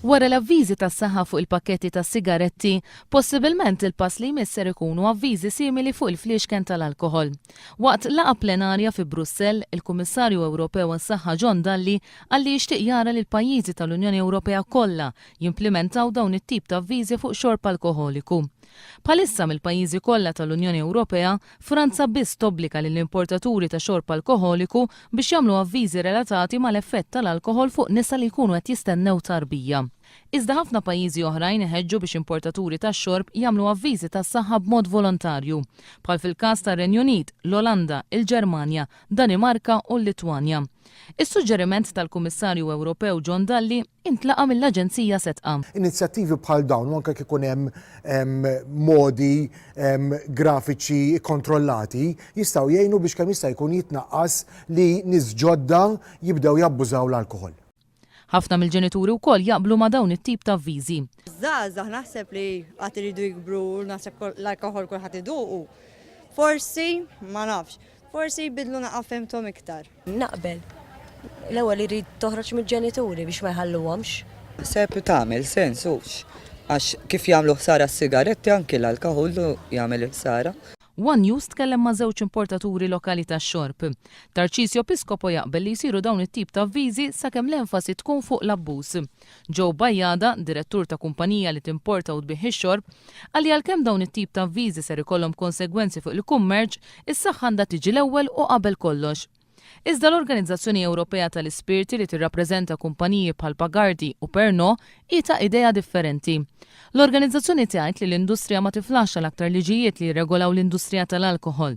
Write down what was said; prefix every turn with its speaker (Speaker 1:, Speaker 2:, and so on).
Speaker 1: Wara l-avviżi tas-saħħa fuq il-pakketti tas-sigaretti, possibilment il-pass li jmiss ser ikunu avviżi simili fuq il-fliexken tal-alkoħol. Waqt laqgħa plenarja fi Brussell, il-Kummissarju Ewropew għas-Saħħa John Dalli qal li jixtieq jara li l-pajjiżi tal-Unjoni Ewropea kollha jimplimentaw dawn it-tip ta' avviżi fuq xorb alkoħoliku. Bħalissa mill-pajjiżi kollha tal-Unjoni Ewropea, Franza biss tobbliga lill-importaturi ta' xorb alkoħoliku biex jagħmlu avviżi relatati mal-effett tal-alkoħol fuq nisa li jkunu qed jistennew tarbija. Iżda ħafna pajjiżi oħrajn iħeġġu biex importaturi tax-xorb jagħmlu avviżi tas-saħħa b'mod volontarju, bħal fil-każ tar-Renju Unit, l-Olanda, il-Ġermanja, Danimarka u l-Litwanja. Is-suġġeriment tal-Kummissarju Ewropew John Dalli, intlaqa' mill-Aġenzija Setqa. Inizjattivi bħal
Speaker 2: dawn, u anke jekk ikun hemm modi grafiċi kkontrollati, jistgħu jgħinu biex kemm jista' jkun jitnaqqas li nies ġodda jibdew jabbużaw l-alkoħol. Ħafna
Speaker 1: mill-ġenituri wkoll jaqblu ma' dawn it-tip ta' avviżi. Żgħażagħ naħseb
Speaker 3: li għad iridu jikbru u naħseb l-alkoħol kulħadd iduqu. Forsi, ma nafx. Forsi jbiddlu naqgħa fehmthom iktar. Naqbel.
Speaker 4: L-ewwel irid toħroġ mill-ġenituri biex ma jħalluhomx. Naħseb tagħmel
Speaker 5: sens hux għax kif jagħmlu ħsara s-sigaretti anki l-alkoħol jagħmel il-ħsara. One News tkellem
Speaker 1: ma' żewġ importaturi lokali tax-xorb. Tarcisio Piscopo jaqbel li jsiru dawn it-tip ta' avviżi sakemm l-enfasi tkun fuq l-abbuż. Joe Bajada, direttur ta' kumpanija li timporta u tbigħ ix-xorb, qal li għalkemm dawn it-tip ta' avviżi ser ikollhom konsegwenzi fuq il-kummerċ, is-saħħa għandha tiġi l-ewwel u qabel kollox. Iżda l-Organizzazzjoni Ewropea tal-Ispirti li tirrappreżenta kumpaniji bħal Pagardi u Pernod hi ta' idea differenti. L-organizzazzjoni tgħid li l-industrija ma tiflaxxa l-aktar liġijiet li jirregolaw l-industrija tal-alkoħol,